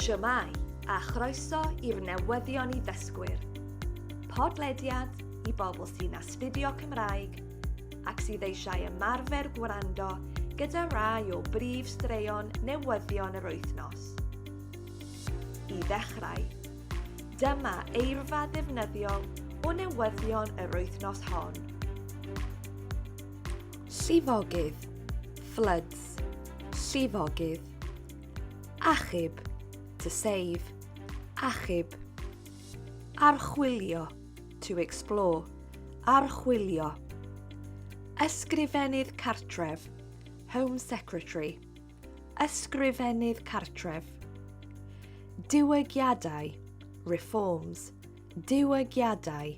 Shwmae, a chroeso i'r newyddion i ddysgwyr. Podlediad i bobl sy'n astudio Cymraeg ac sydd eisiau ymarfer gwrando gyda rai o brif straeon newyddion yr wythnos. I ddechrau, dyma eirfa ddefnyddiol o newyddion yr wythnos hon. Llifogydd, floods, Private, llifogydd, achub, to save, achub, archwilio, to explore, archwilio, ysgrifennydd cartref, Home Secretary, ysgrifennydd cartref, diwygiadau, reforms, diwygiadau,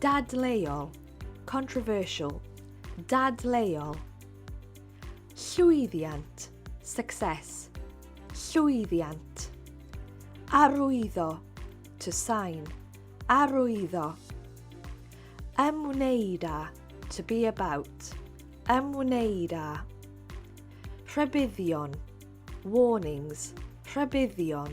Dadleuol, controversial, dadleuol. Llwyddiant, success, llwyddiant. Arwyddo, to sign, arwyddo. Ymwneud â, to be about, ymwneud â. Rhybuddion, warnings, rhybuddion.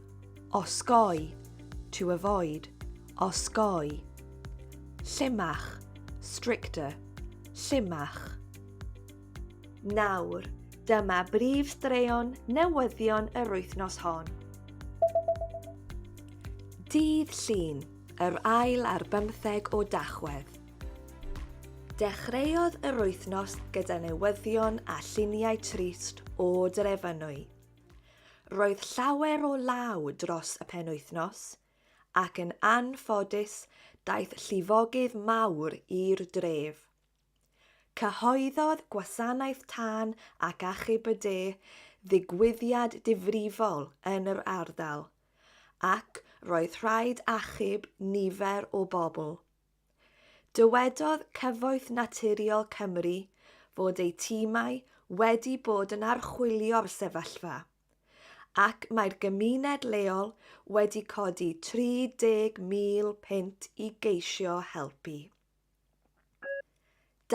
Osgoi, to avoid, osgoi. Llimach, stricter, llimach. Nawr, dyma brif straeon newyddion yr wythnos hon. Dydd Llun, yr ail ar bymtheg o Dachwedd. Dechreuodd yr wythnos gyda newyddion a lluniau trist o Drefynwy. Roedd llawer o law dros y penwythnos, ac yn anffodus daeth llifogydd mawr i'r dref. Cyhoeddodd Gwasanaeth Tân ac Achub y De ddigwyddiad difrifol yn yr ardal, ac roedd rhaid achub nifer o bobl. Dywedodd Cyfoeth Naturiol Cymru fod eu timau wedi bod yn archwilio'r sefyllfa, ac mae'r gymuned leol wedi codi 30,000 punt i geisio helpu.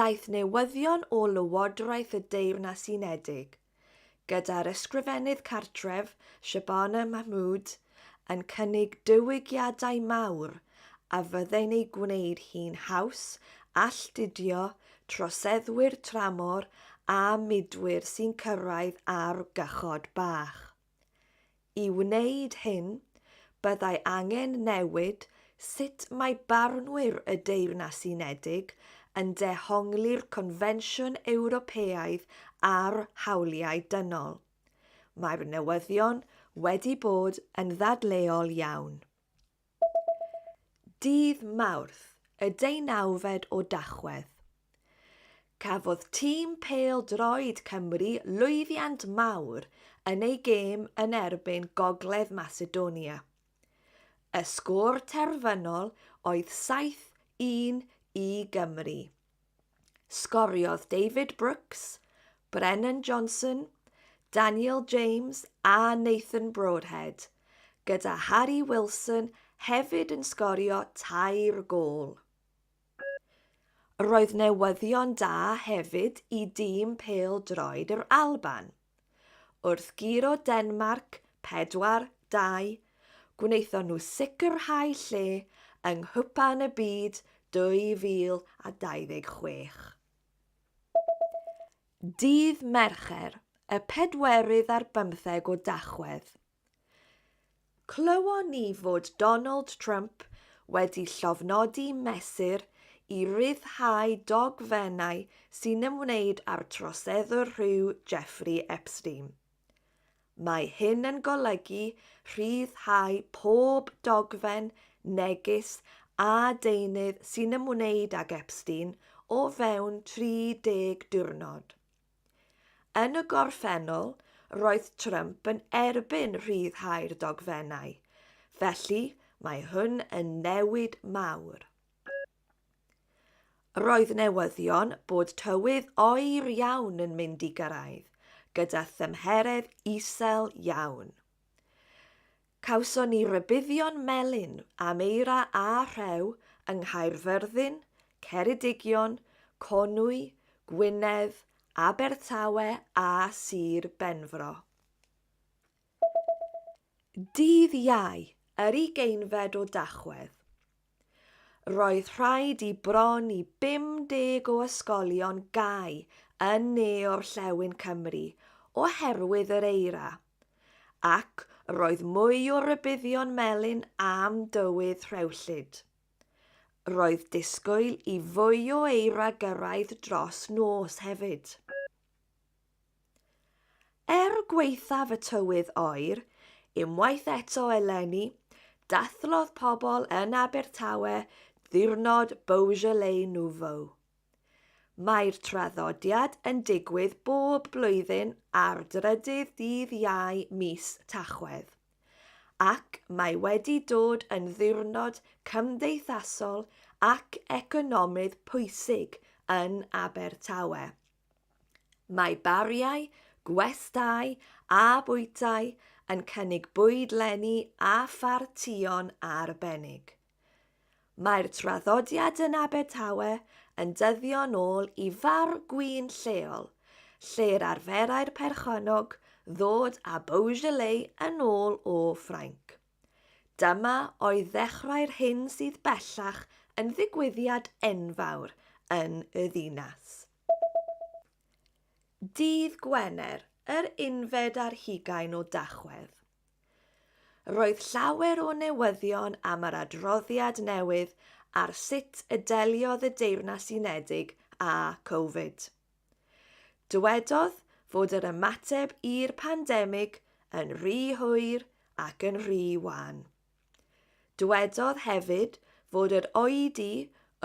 Daeth newyddion o Lywodraeth y Deyrnas Unedig gyda'r Ysgrifennydd Cartref, Shabana Mahmood, yn cynnig diwygiadau mawr a fyddai'n ei gwneud hi'n haws alltudio troseddwyr tramor a mudwyr sy'n cyrraedd ar gychod bach. I wneud hyn, byddai angen newid sut mae barnwyr y Deyrnas Unedig yn dehongli'r Confensiwn Ewropeaidd ar Hawliau Dynol. Mae'r newyddion wedi bod yn ddadleuol iawn. Dydd Mawrth, y deunawfed o Dachwedd, cafodd tîm pêl-droed Cymru lwyddiant mawr yn eu gêm yn erbyn Gogledd Macedonia. Y sgôr terfynol oedd 7-1 i Gymru. Sgoriodd David Brooks, Brennan Johnson, Daniel James a Nathan Broadhead, gyda Harry Wilson hefyd yn sgorio tair gôl. Roedd newyddion da hefyd i dîm pêl-droed yr Alban. Wrth guro Denmarc 4-2, gwnaethon nhw sicrhau lle yng Nghwpan y Byd 2026. Dydd Mercher, y pedwerydd ar bymtheg o Dachwedd, Clywon ni fod Donald Trump wedi llofnodi mesur i ryddhau dogfennau sy'n ymwneud â'r troseddwr rhyw Jeffrey Epstein. Mae hyn yn golygu rhyddhau pob dogfen, neges a deunydd sy'n ymwneud ag Epstein o fewn 30 diwrnod. Yn y gorffennol, roedd Trump yn erbyn rhyddhau'r dogfennau, felly mae hwn yn newid mawr. Roedd newyddion bod tywydd oer iawn yn mynd i gyrraedd, gyda thymheredd isel iawn. Cawson ni rybuddion melyn am eira a rhew yng Nghaerfyrddin, Ceredigion, Conwy, Gwynedd, Abertawe a Sir Benfro. Dydd Iau, yr ugeinfed o Dachwedd. Roedd rhaid i bron i 50 o ysgolion gau yn ne orllewin Cymru oherwydd yr eira, ac roedd mwy o rybuddion melyn am dywydd rhewllyd. Roedd disgwyl i fwy o eira gyrraedd dros nos hefyd. Er gwaethaf y tywydd oer, unwaith eto eleni, dathlodd pobl yn Abertawe ddiwrnod Beaujolais Nouveau. Mae'r traddodiad yn digwydd bob blwyddyn ar drydydd dydd Iau mis Tachwedd, ac mae wedi dod yn ddiwrnod cymdeithasol ac economydd pwysig yn Abertawe. Mae bariau, gwestai a bwytai yn cynnig bwyd leni a phartïon arbennig. Mae'r traddodiad yn Abertawe yn dyddio'n ôl i far gwin lleol, lle'r arferai'r perchennog ddod â Beaujolais yn ôl o Ffrainc. Dyma oedd ddechrau'r hyn sydd bellach yn ddigwyddiad enfawr yn y ddinas. Dydd Gwener, yr unfed ar hugain o Dachwedd. Roedd llawer o newyddion am yr adroddiad newydd ar sut y deliodd y Deyrnas Unedig â Covid. Dywedodd fod yr ymateb i'r pandemig yn rhy hwyr ac yn rhy wan. Dywedodd hefyd fod yr oedi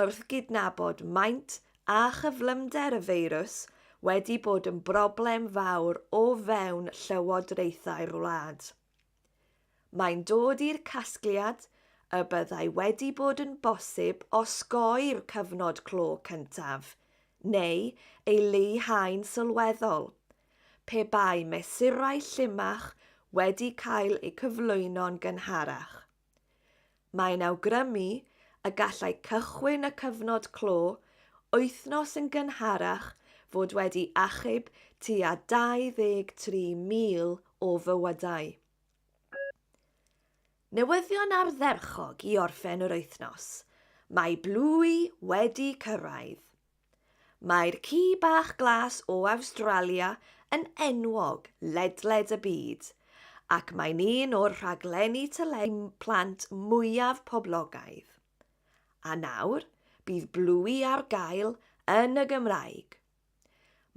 wrth gydnabod maint a chyflymder y feirws wedi bod yn broblem fawr o fewn llywodraethau'r wlad. Mae'n dod i'r casgliad y byddai wedi bod yn bosib osgoi'r cyfnod clo cyntaf, neu ei leihau'n sylweddol, pe bai mesurau llimach wedi cael eu cyflwyno'n gynharach. Mae'n awgrymu y gallai cychwyn y cyfnod clo wythnos yn gynharach fod wedi achub tua 23,000 o fywydau. Newyddion ardderchog i orffen yr wythnos, mae Blwy wedi cyrraedd! Mae'r ci bach glas o Awstralia yn enwog ledled y byd, ac mae'n un o'r rhaglenni teledu plant mwyaf poblogaidd. A nawr, bydd Bluey ar gael yn y Gymraeg.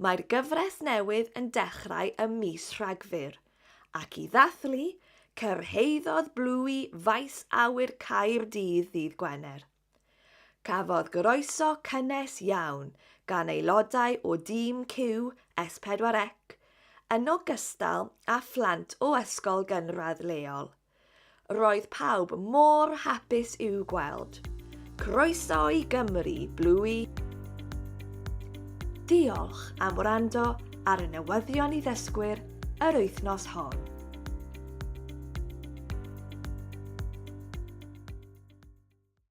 Mae'r gyfres newydd yn dechrau ym mis Rhagfyr, ac i ddathlu, cyrhaeddodd Bluey Faes Awyr Caerdydd ddydd Gwener. Cafodd groeso cynnes iawn gan aelodau o dîm QS4C, yn ogystal â phlant o ysgol gynradd leol. Roedd pawb mor hapus i'w gweld. Croeso i Gymru, Bluey! Diolch am wrando ar y newyddion i ddysgwyr yr wythnos hon.